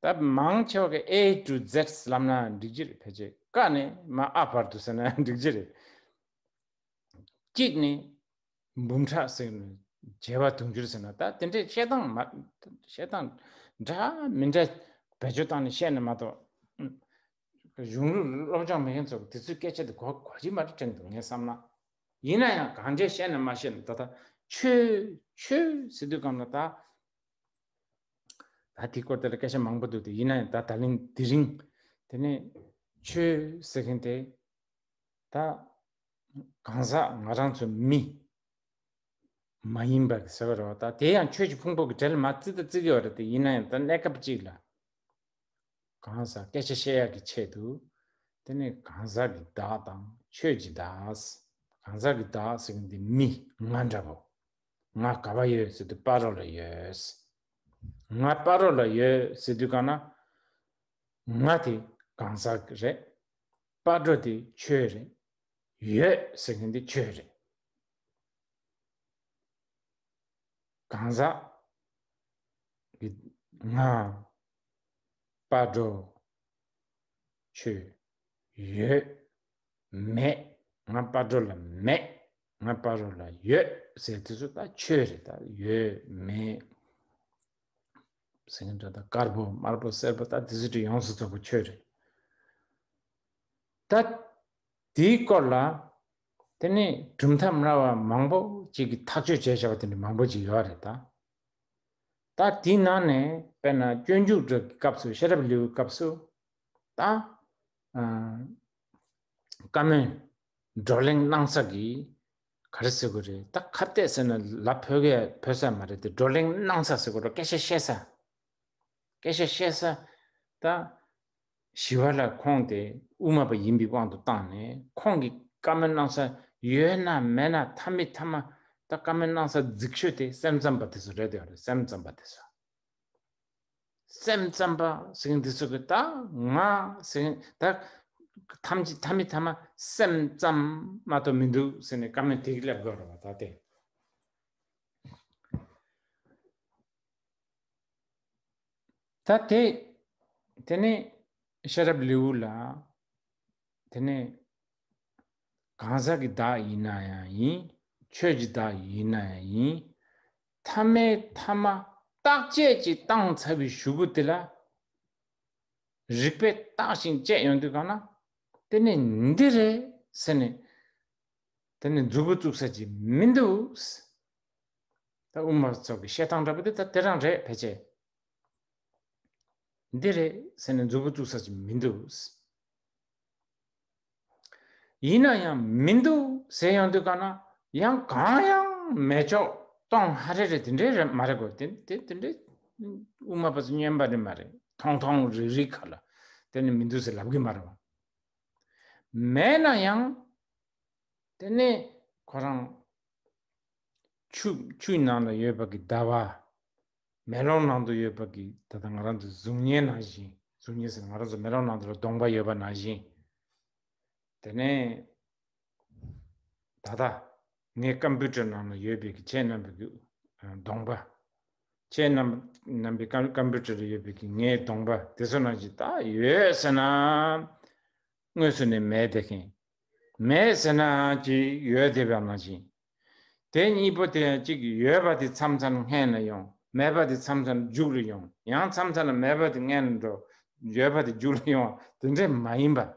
སྟབས་མང་ཆེ་བ་གི A to Z ལམ་ན་འགྲིག་གྱི་རེད་ཕལ་ཆེ་ཀ་ནི་མ་ཨ་བར་དུ་ཟེར་ན་འགྲིག་གྱི་རེད། གཅིག་ནི་འབུམ་ཕྲག་ཟེར་ནས་བརྒྱད་པ་དུང་ཕྱུར་ཟེར་ན་ད་དེ་འདྲའི་བཤད་སྟངས་མ་བཤད་སྟངས་འདྲ་མི་འདྲ་བེད་སྤྱོད་སྟངས་ནི་བཤད་ནི་མ་གཏོགས། གཞུང་ལུགས་སློབ་སྦྱོང་མེད་མཁན་ཚོ་དེ་ཚོའི་སྐད་ཆ་དེ་གོ་གོ་ཇི་མ་རེད་དྲན་འདུག་ངས་བསམ་ན། ཡིན་ན་ཡང་གང་འདྲས་བཤད་ནི་མ་བཤད་ནི་ད་ལྟ་ཆོས་ཆོས་ཟེར་དུས་གམ་ལ་ད་ད་དེ་སྐོར་དེ་ལ་སྐད་ཆ་མང་པོ་འདུག་དེ་ཡིན་ན་ཡང་ད་ད་ལིང་དེ་རིང་དེ་ནས་ཆོས་ཟེར་མཁན་དེ་ད་གང་ཟག་ང་རང་ཚོ་མི་མ་ཡིན་པ་ཟེར་བ་རོ་ད་དེ་ཡང་ཆོས་ཀྱི་ཕུང་པོ་གི་གྲལ་མ་བརྩི་ད་བརྩི་གི་བར་དེ་ཡིན་ན་ཡང་ད་གནས་སྐབས་གཅིག་ལ་གང་ཟག་སྐད་ཆ་བཤད་ཡག་གི་ཆེད་དུ་དེ་ནས་གང་ཟག་གི་བདག་དང་ཆོས་ཀྱི་བདག་གང་ཟག་གི་བདག་ཟེར་མཁན་དེ་མི་ང་འདྲ་བོ། ང་ག་བ་ཡོད་ཟེར་དུས་པར་རོ་ལ་ཡོད། ང་པར་རོ་ལ་ཡོད་ཟེར་དུས་གང་ན། ང་དེ་གང་ཟག་གི་རེད། པར་རོ་དེ་ཁྱོད་རེད། ཡོད་ཟེར་མཁན་དེ་ཁྱོད་རེད། གང་ཟག་གི་ང། པར་རོ། ཁྱོད། ཡོད། མེད། ང་པར་རོ་ལ་མེད། ང་སྤ་རོ་ལ་ཡོད་ཟེར་དེ་ཚོ་ད་ཆོས་རེད་ད་ཡོད་མེད་སེང་གེ་འདྲ་ད་དཀར་པོ་དམར་པོ་སེར་པོ་ད་དེ་ཚོ་དྲི་ཡོངས་སུ་རྫོགས་པ་ཆོས་རེད་ད་དེའི་སྐོར་ལ་དེ་ནི་གྲུབ་མཐའ་མི་ར་བ་མང་པོ་ཅིག་གི་ཐག་གཅོད་བྱས་བྱ་བ་དེ་འདྲ་མང་པོ་ཅིག་ཡོད་རེད་ད་ད་དེའི་ནང་ནས་དཔེར་ན་སྐྱོན་འཇུག་སྒྲོག་གི་སྐབས་སུ་ཤེས་རབ་ལེའུའི་སྐབས་སུ་ད་བཀའ་མོལ་བགྲོ་གླེང་གནང་ས་གི། ག་རེ་ཟེར་དགོས་རེད་ད་ཁ་བཏད་ཟེར་ན་ལ་བོད་སྐད་བོད་ས་མ་རེད་དེ་བགྲོ་གླེང་གནང་ས་ཟེར་དགོས་རོ་སྐད་ཆ་བཤད་ས། སྐད་ཆ་བཤད་ས། ད། ཞི་བ་ལ་ཁོང་དེ་དབུ་མ་པ་ཡིན་པའི་དབང་དུ་བཏང་ནས་ཁོང་གི་བཀའ་མོལ་གནང་ས་ཡོད་ན་མེད་ན་མཐའ་མི་མཐའ་མ་ད་བཀའ་མོལ་གནང་ས་རྫིག་ཤོས་དེ་སེམས་ཙམ་པ་དེ་ཚོ་རེད་ཡོད་རེད་སེམས་ཙམ་པ་དེ་ཚོ། སེམས་ཙམ་པ་ཞིག་འདི་ཚོ་གི་ད་ང་ཞིག་ད་ཐམས་ཅད་ཐ་མི་ཐ་མ་སེམས་ཙམ་མ་གཏོགས་མི་འདུག་ཟེར་ནས་ཀ་མེད་དེ་གི་ལབ་དགོས་རོ་བ་ད་དེ། ད་དེ་དེ་ནི་ཤེས་རབ་ལེའུ་ལ་དེ་ནི་གང་ཟག་གི་བདག་ཡིན་ན་ཡང་ཡིན་ཆོས་ཀྱི་བདག་ཡིན་ན་ཡང་ཡིན་ཐ་མའི་ཐ་མ་རྟག་ཆད་ཀྱི་སྟངས་ཚ་བའི་ཞུ་བུ་དེ་ལ་རིག་པས་བརྟགས་ཤིང་དཔྱད་ཡོང་དུས་གང་ན་དེ་ནི་འདི་རེད་ཟེར་ནས་དེ་ནི་མཛུབ་བུ་བཙུགས་ས་ཅི་མི་འདུག་ཟེར། ད་དབུ་མ་ཚོགས་ཀྱི་བཤད་སྟངས་འདྲ་པོ་དེ་ད་དེ་རང་རེད་ཕལ་ཆེར། འདི་རེད་ཟེར་ནས་མཛུབ་བུ་བཙུགས་ས་ཅི་མི་འདུག་ཟེར། ཡིན་ན་ཡང་མི་འདུག་ཟེར་ཡང་འདུག་ག་ན་ཡང་གང་ཡང་མེད་ཆོག་སྟོང་ཧ་རེ་རེད་དེ་འདྲས་རེད་མ་རེད་གོ་དེ་དེ་དེ་འདྲས་དབུ་མ་པ་ཚོ་སྙན་པ་རེད་མ་རེད་ཐོང་ཐོང་རིག་རིག་ག་ལ་དེ་ནི་མི་འདུག་ཟེར་ལབ་གི་མ་རེད་བ། མེད་ན་ཡང་དེ་ནི་ཁོ་རང་ཆུ་ཆུ་ནང་ལ་ཡོད་པ་གི་ཟླ་བ་མེ་ལོང་ནང་དུ་ཡོད་པ་གིས་ད་ལྟ་ང་རང་ཚོའི་གཟུགས་བརྙན་ནང་བཞིན་གཟུགས་བརྙན་ཟེར་ན་ང་རང་ཚོ་མེ་ལོང་ནང་དུ་ལ་སྡོང་པ་ཡོད་པ་ནང་བཞིན། དེ་ནས་ད་ལྟ་ངའི Computer ནང་ན་ཡོད་པའི་གི་ཁྱེད་རྣམ་པའི་གི་སྡོང་པ། ཁྱེད་རྣམ་པའི་གམ Computer ལ་ཡོད་པའི་གི་ངའི་སྡོང་པ་དེ་ཚོ་ནང་བཞིན་ད་ཡོད་ཟེར་ན། དངོས་སུ་ནས་མེད་དེ་གིན། མེད་ཟེར་ན་ཅི་ཡོད་དེ་བ་ནང་བཞིན་དེ་གཉིས་པོ་དེ་ཡང་གཅིག་ཡོད་པ་དེ་མཚམས་མཚམས་སྔས་ན་ཡོང་མེད་པ་དེ་མཚམས་མཚམས་རྒྱུགས་རུ་ཡོང་ཡང་མཚམས་མཚམས་ལ་མེད་པ་དེ་སྔས་ན་འགྲོ་ཡོད་པ་དེ་རྒྱུགས་རུ་ཡོང་དེ་འདྲས་མ་ཡིན་པར།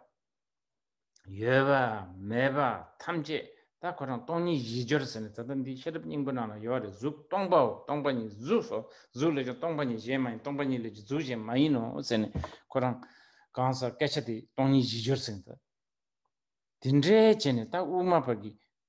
ཡོད་པ་མེད་པ་ཐམས་ཅད་ད་ཁོ་རང་སྟོང་ཉིད་བཞི་སྦྱོར་ཟེར་ནས་ད་ལྟ་འདིའི་ཤེས་རབ་སྙིང་པོ་ནང་ལ་ཡོད་རེད་གཟུགས་སྟོང་པའོ་སྟོང་པ་ཉིད་གཟུགས་སོ་གཟུགས་ལས་ཀྱང་སྟོང་པ་ཉིད་གཞན་མ་ཡིན་སྟོང་པ་ཉིད་ལས་ཀྱང་གཟུགས་གཞན་མ་ཡིན་ནོ་ཟེར་ནས་ཁོ་རང་གང་ཟག་སྐད་ཆ་དེ་སྟོང་ཉིད་བཞི་སྦྱོར་ཟེར་ནས་ད་དེ་འདྲས་བྱས་ནས་ད་དབུ་མ་བར་གྱི་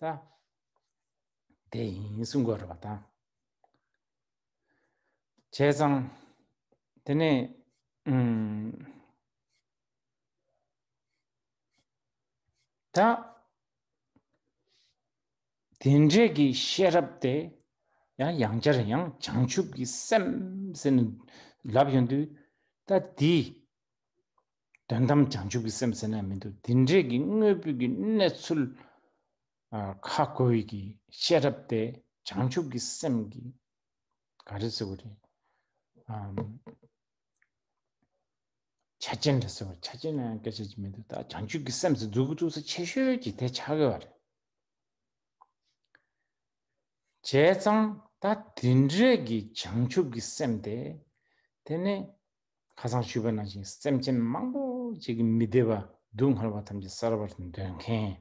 ད་དེ་ཡིན་གསུང་གོ་ར་བ་དང་ཆེ་ཙང་དེ་ནས་ད་དེ་འདྲེ་གི་ཤེས་རབ་དེ་ཡང་ཡང་ཅར་ཡང་བྱང་ཆུབ་ཀྱི་སེམས་སེམས་ལབ་ཡོང་དུས་ད་དེ་དོན་དམ་བྱང་ཆུབ་ཀྱི་སེམས་ཟེར་ན་མི་འདུག་དེ་འདྲས་ཀྱི་དངོས་པོའི་གི་གནས་ཚུལ་ཁ་བཀོལ་གྱི་ཤེས་རབ་དེ་བྱང་ཆུབ་ཀྱི་སེམས་ཀྱི་ག་རེ་ཟེར་བ་རེད་ཆ་རྐྱེན་རེད་ཟེར་བ་ཆ་རྐྱེན་ནང་སྐད་ཆ་ཅི་མི་འདུག་ད་བྱང་ཆུབ་ཀྱི་སེམས་སུ་འཛུགས་ཀྱི་འདུག་ས་ཆེ་ཤོས་ཀྱི་དེ་ཆགས་གི་བ་རེད་བྱས་ཙང་ད་དེ་འདྲས་ཀྱི་བྱང་ཆུབ་ཀྱི་སེམས་དེ་དེ་ནི་ཁ་སང་ཞུས་པ་ནང་བཞིན་སེམས་ཅན་མང་པོ་གཅིག་གི་མི་བདེ་བ་སྡུག་བསྔལ་བ་ཐམས་ཅད་བསལ་བར་འདོད་མཁན།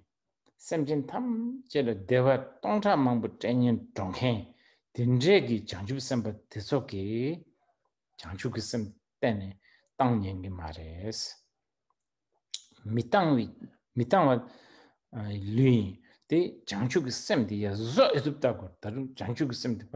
སེམས་ཅན་ཐམས་ཅད་ལ་བདེ་བ་སྟོང་ཕྲག་མང་པོ་སྤྲད་ཉེན་སྒྲོག་མཁན་དེ་འདྲས་ཀྱི་བྱང་ཆུབ་སེམས་དཔའ་དེ་ཚོ་གི་བྱང་ཆུབ་ཀྱི་སེམས་གཏན་ནས་གཏང་ཉན་གྱི་མ་རེད། མི་གཏང་བའི་མི་གཏང་བ་ལོས་ཡིན། དེ་བྱང་ཆུབ་ཀྱི་སེམས་དེ་ཡ་བཟོ་ཨེ་ཐུབ་བལྟ་དགོས། ད་དུང་བྱང་ཆུབ་ཀྱི་སེམས་དེ་པ་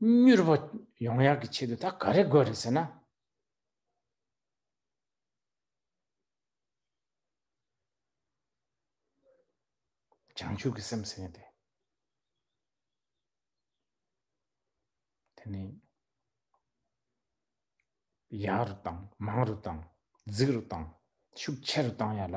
མྱུར་བ་ཡོང་ཡག་གི་ཆེད་དུ་ད་ག་རེ་དགོས་རེད་ཟེར་ན། བྱང་ཆུབ་ཀྱི་སེམས་ཟེར་ཡིན་ཏེ། དེ་ནི་ཡག་རུ་དང་མང་རུ་དང་རྫིག་རུ་དང་ཤུགས་ཆེ་རུ་བཏང་ཡ་ལ།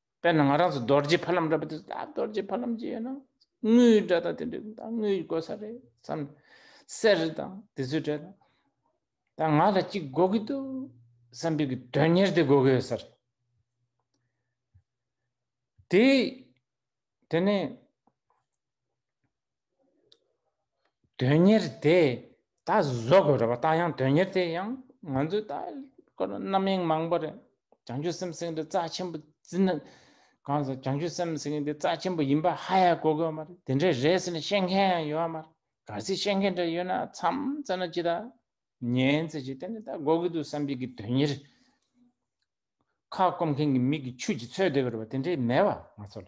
དཔེར་ན་ང་རང་ཚོ་རྡོ་རྗེ་ཕ་ལམ་འདྲ་པོ་དེ་ད་རྡོ་རྗེ་ཕ་ལམ་ཅིག་ཡོད་ན་དངུལ་འདྲ་དང་དེ་འདྲ་ད་དངུལ་དགོས་ས་རེད་བསམ་གསེར་དང་དེ་ཚོ་འདྲ་དང་ད་ང་ལ་གཅིག་དགོས་ཀྱི་འདུག་བསམ་པའི་གི་དོན་གཉེར་དེ་དགོས་ཀྱི་ཡོད་ས་རེད་དེ་དེ་ནས་དོན་གཉེར་དེ་ད་བཟོ་དགོས་རེད་པ་ད་ཡང་དོན་གཉེར་དེ་ཡང་ང་ཚོས་ད་ཁོ་ན་རྣམ་གཡེང་མང་པོ་རེད་བྱང་ཆུབ་སེམས་སེང་དེ་རྩ་ཆེན་པོ་ཙི་ན་གང་ཟེར་བྱང་ཆུབ་སེམས་སེང་དེ་རྩ་ཆེན་པོ་ཡིན་པ་ཧ་ཡ་གོ་དགོས་མ་རེད་དེ་འདྲའི་རེད་ཟེར་ནས་བཤད་མཁན་ཡང་ཡོད་མ་རེད་གལ་སྲིད་བཤད་མཁན་འདྲ་ཡོད་ན་མཚམས་བཙལ་ན་ཅི་ད་ཉན་ཚེ་ཅི་དེ་ནི་ད་གོ་གི་འདུག་བསམ་གྱི་གི་དོན་གཉེར་ཁ་སྐོམ་མཁན་གྱི་མིག་གི་ཆུ་གྱིས་འཚོས་བསྡད་པ་རེད་པ་དེ་འདྲའི་མེད་པ་ང་ཚོ་ལ་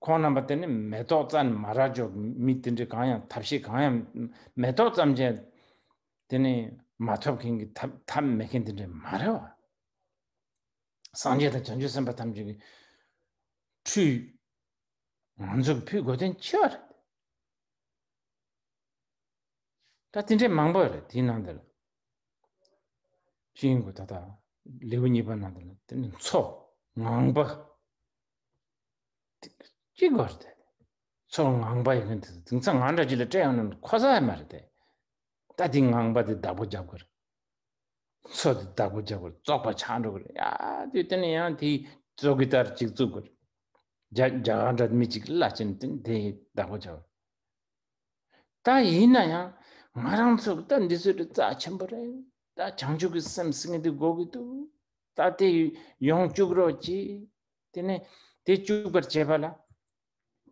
ཁོང་རྣམ་པ་དེ་ནི་མེ་ཏོག་རྩྭ་ནི་མ་ར་ཅོ་མི་དེ་འདྲའི་གང་ཡང་ཐབས་ཤེས་གང་ཡང་མེ་ཏོག་རྩམ་ཅན་དེ་ནི་མ་ཐོབ་མཁན་གྱི་ཐབས་མེད་མཁན་དེ་འདྲའི་མ་རེད་བ། སངས་རྒྱས་དང་བྱང་ཆུབ་སེམས་དཔའ་ཐམས་ཅད་ཀྱི་ཁྲུས། ང་ཚོ་གི་ཕུད་དགོས་དོན་ཆེ་བ་རེད། ད་དེ་འདྲའི་མང་པོ་རེད་དེའི་ནང་དེ་ལ། ཤིང་གོ་ད་ད་ལེའུ་གཉིས་པ་ནང་དེ་ལ་དེ་ནི་འཚོ་ངང་པ། ཅི་གོ་རེད་ཚོར་ངང་པ་ཡིན་དེ་དེང་སང་ང་འདྲ་ཅི་ལ་སྤྲད་ཡོང་ནམ་ཁོ་ས་མ་རེད་ད་དེ་ངང་པ་དེ་བདག་པོ་རྒྱབ་གོ་རེད་ཚོ་དེ་བདག་པོ་རྒྱབ་གོ་རེད་བཙོག་པ་ཆགས་འགྲོ་གོ་རེད་ཡ་དེ་དེ་ནི་ཡང་དེ་བཙོག་གི་ལྟར་ཅིག་བཙོག་གོ་རེད་རྒྱ་རྒྱ་ག་འདྲ་མི་ཅིག་བླ་ཅན་དེ་བདག་པོ་རྒྱབ་ད་ཡིན་ན་ཡང་ང་རང་ཚོར་ད་འདི་ཚོས་རྩ་ཆེན་པོ་རེད་ད་བྱང་ཆུབ་ཀྱི་སེམས་ཟེར་ངེས་དེ་དགོས་ཀྱི་འདུག་ད་དེ་ཡོང་བཅུག་རོགས་གྱིས་དེ་ནས་དེ་བཅུག་པར་བྱས་པ་ལ་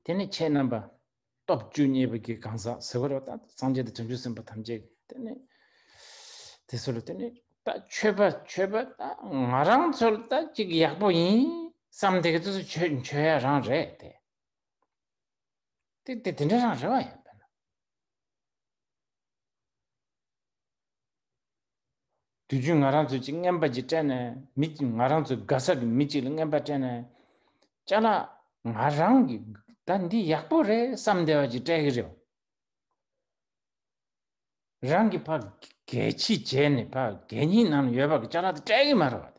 དེ་ནས་ཁྱེད་རྣམ་པ་སྟོབས་བཅུ་གཉིས་པོ་གྱི་གང་ཟག་ཟེར་བ་རོ་ད་སངས་རྒྱས་དང་བྱང་ཆུབ་སེམས་དཔའ་ཐམས་ཅད་དེ་ནས་དེ་ཚོ་ལ་དེ་ནས་ད་ཆོས་པ་ཆོས་པ་ད་ང་རང་ཚོར་ད་ཅིག་ཡག་པོ་ཡིན་བསམ་དེ་ག་ཚོས་ཆོས་ཆོས་ཡ་རང་རེད་དེ། དེ་དེ་དེ་འདྲ་རང་རེད་བ་ཡིན། དུས་རྒྱུན་ང་རང་ཚོ་གཅིག་རྔན་པ་གཅིག་སྤྲད་ནས་མི་གཅིག་ང་རང་ཚོ་ག་ས་གི་མི་གཅིག་ལ་རྔན་པ་སྤྲད་ནས། ཅག་ལ་ང་རང་གི་ད་འདི་ཡག་པོ་རེད་བསམ་བསྡད་པ་གཅིག་སྤྲད་གི་རེད་བ། རང་གི་ཕ་གད་ཕྱི་རྒྱལ་ནས་ཕ་གད་གཉིས་ནང་ལ་ཡོད་པ་གི་ཅག་ལ་ད་སྤྲད་གི་མ་རེད་བ་དེ།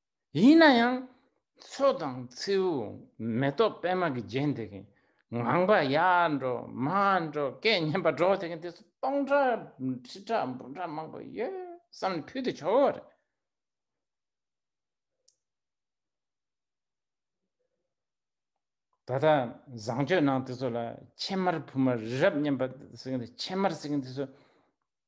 ཡིན་ན་ཡང་མཚོ་དང་མཚེའུ་མེ་ཏོག་སྤེལ་མ་གིས་བརྒྱན་དེ་གིན་ངང་པ་ཡར་འགྲོ་མར་འགྲོ་སྐད་སྙན་པ་སྒྲོག་དེ་གིན་དེ་ཚོ་སྟོང་ཕྲག་ཁྲི་ཕྲག་འབུམ་ཕྲག་མང་པོ་ཡོད་བསམ་ནས་ཕུལ་དུ་ཆོག་གོ་རེད། ད་ལྟ་བཟང་སྤྱོད་ནང་དེ་ཚོ་ལ་ཕྱེ་མར་ཕུལ་མར་རི་རབ་སྙན་པ་ཟེར་གིན་དེ་ཕྱེ་མར་ཟེར་གིན་དེ་ཚོ་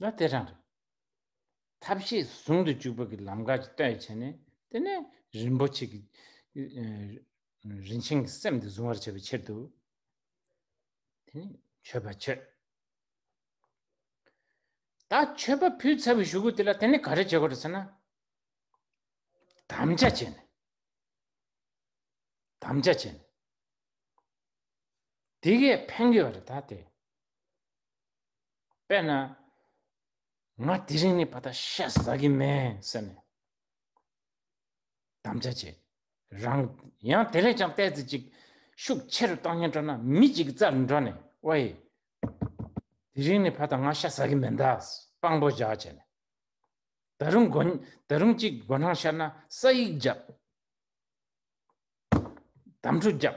ལ་དེ་རང་རེད། ཐབས་ཤེས་ཟུང་དུ་འཇུག་པ་གི་ལམ་ཁ་ཅིག་བལྟ་ཡི་བྱས་ནས་དེ་ནས་རིན་པོ་ཆེ་གི་རིན་ཆེན་གི་སེམས་དེ་བཟུང་བར་བྱ་བའི་ཕྱིར་དུ། དེ་ནི་མཆོད་པ་མཆོད། ད་མཆོད་པ་ཕུལ་ཚར་བའི་གཞུག་གུ་དེ་ལ་དེ་ནི་ག་རེ་བྱེད་དགོས་རེད་ཟེར་ན། དམ་བཅའ་བྱས་ནས། དམ་བཅའ་བྱས་ནས། དེ་གས་ཕན་དགོས་པ་རེད་ད་དེ། དཔེར་ན། ང་དེ་རིང་ནས་བ་ད་ཤ་ཟ་གི་མེད་ཟེར་ནས་དམ་བཅའ་བྱས་རང། ཡང་དེ་ལས་ཀྱང་བལྟས་ཚེ་ཅིག་ཤུགས་ཆེ་རུ་བཏང་ཉེན་སྤྲོ་ན་མི་གཅིག་རྩར་འགྲོ་ནས་ཨོའེ། དེ་རིང་ནས་བ་ད་ང་ཤ་ཟ་གི་མེད་འདའ་དཔང་པོ་བཞག་བྱས་ནས། ད་རུང་དགོན་ད་རུང་ཅིག་དགོན་ནང་ཤར་ན་ས་ཡིག་བརྒྱབ། དམ་ཕྲུག་བརྒྱབ།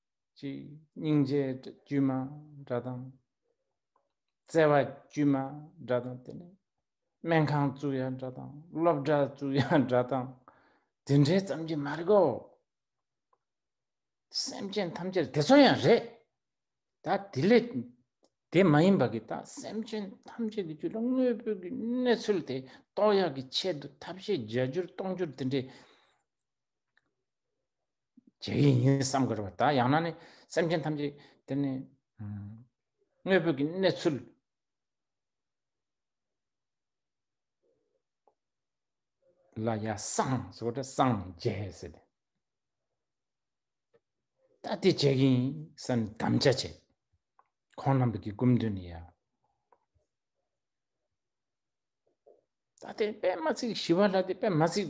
ཅི། སྙིང་རྗེ་དཀྱུས་མ་འདྲ་དང། བརྩེ་བ་དཀྱུས་མ་འདྲ་དང་དེ་ནས། སྨན་ཁང་བཙུགས་ཡ་འདྲ་དང་སློབ་གྲྭ་བཙུགས་ཡ་འདྲ་དང། དེ་འདྲའི་ཙམ་གྱིས་མ་རིག་གོ། སེམས་ཅན་ཐམས་ཅད་དེ་ཚོ་ཡང་རེད། ད་དེ་ལས་དེ་མ་ཡིན་པ་གི་ད་སེམས་ཅན་ཐམས་ཅད་ཀྱི་རྒྱུད་ལ་དངོས་པོའི་གི་གནས་ཚུལ་དེ་རྟོགས་ཡ་གི་ཆེད་དུ་ཐབས་ཤེས་བརྒྱ་འགྱུར་སྟོང་འགྱུར་དེ་འདྲའི། བྱེད་ཡིན་བསམ་དགོས་རེད་པ་ད་ཡང་ན་ནི་སེམས་ཅན་ཐམས་ཅད་དེ་ནི་དངོས་པོ་གི་གནས་ཚུལ་ལ་ཡ་སང་སོ་དེ་སང་རྒྱས་སེ་དེ་ད་དེ་བྱེད་ཡིན་སམ་དམ་བཅའ་བྱེད་ཁོང་རྣམ་པ་གི་སྐུམ་འདུན་ནི་ཡ་ད་དེ་པད་མ་ཚིག་ཞི་བ་ལ་དེ་པད་མ་ཚིག་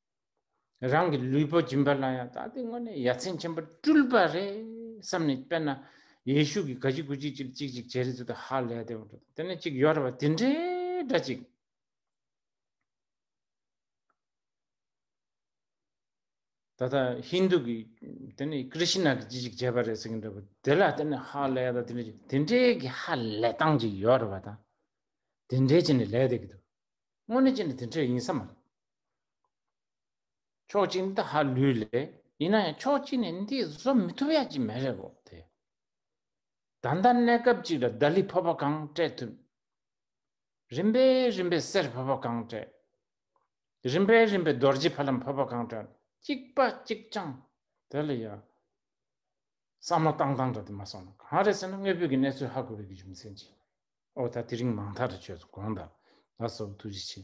རང་གི་ལུས་པོ་སྦྱིན་པ་ལ་ཡང་ད་ལྟའི་སྔོན་ནས་ཡ་མཚན་ཆེན་པོ་སྤྲུལ་པ་རེད་བསམ་ནས་དཔེར་ན་ཡེ་ཤུ་གི་ག་ཅིག་གུ་ཅིག་ཅིག་ཅིག་ཅིག་ཇེ་རེ་ཙུ་དུ་ཧ་ལས་དེ་བ་དེ་ནས་ཅིག་ཡོར་བ་དེ་འདྲའི་འདྲ་ཅིག། ད་ལྟ་ཧིན་དུ་གི་དེ་ནས་ཀི་རི་ཤི་ན་གི་ཅིག་ཅིག་ཇེ་བ་རེ་ཟེར་གི་འདྲ་བ་དེ་ལ་དེ་ནས་ཧ་ལས་ད་དེ་འདྲ་ཅིག་དེ་འདྲའི་གི་ཧ་ལས་སྟངས་ཅིག་ཡོར་བ་དང་དེ་འདྲའི་ཅི་ནས་ལས་དེ་གི་དུ་སྔོན་ནས་ཅི་ནས་དེ་འདྲ་ཡིན་ས་མ་རེད། ཕྱོགས་གཅིག་འདི་ཧ་ལུས་ལས་ཡིན་ན་ཡང་ཕྱོགས་གཅིག་ནས་འདི་བཟོ་མི་ཐུབ་ཡག་ཅིག་མེད་རེད་བོ་དེ། ད་ལྟ་གནས་སྐབས་ཅིག་ལ་ལྡ་ལི་ཕོར་པ་གང་སྤྲད་ཐུབ། རིམ་པས་རིམ་པས་སེར་ཕོར་པ་གང་སྤྲད། རིམ་པས་རིམ་པས་རྡོ་རྗེ་ཕ་ལམ་ཕོར་པ་གང་སྤྲད་གཅིག་པ་གཅིག་ཅང་དེ་ལ་ཡང་བསམ་བློ་བཏང་བཏང་འདྲ་དེ་མ་སོང་ན་གང་རེད་ཟེར་ན་དངོས་པོའི་གི་གནས་ཚུལ་ཧ་གོ་བའི་གི་རྒྱུ་མཚན་ཅིག་ཨོ་ད་དེ་རིང་མང་ཐག་རེ་བྱོས་སོང་གོང་ད་ད་སོ་ཐུགས་རྗེ་ཆེ།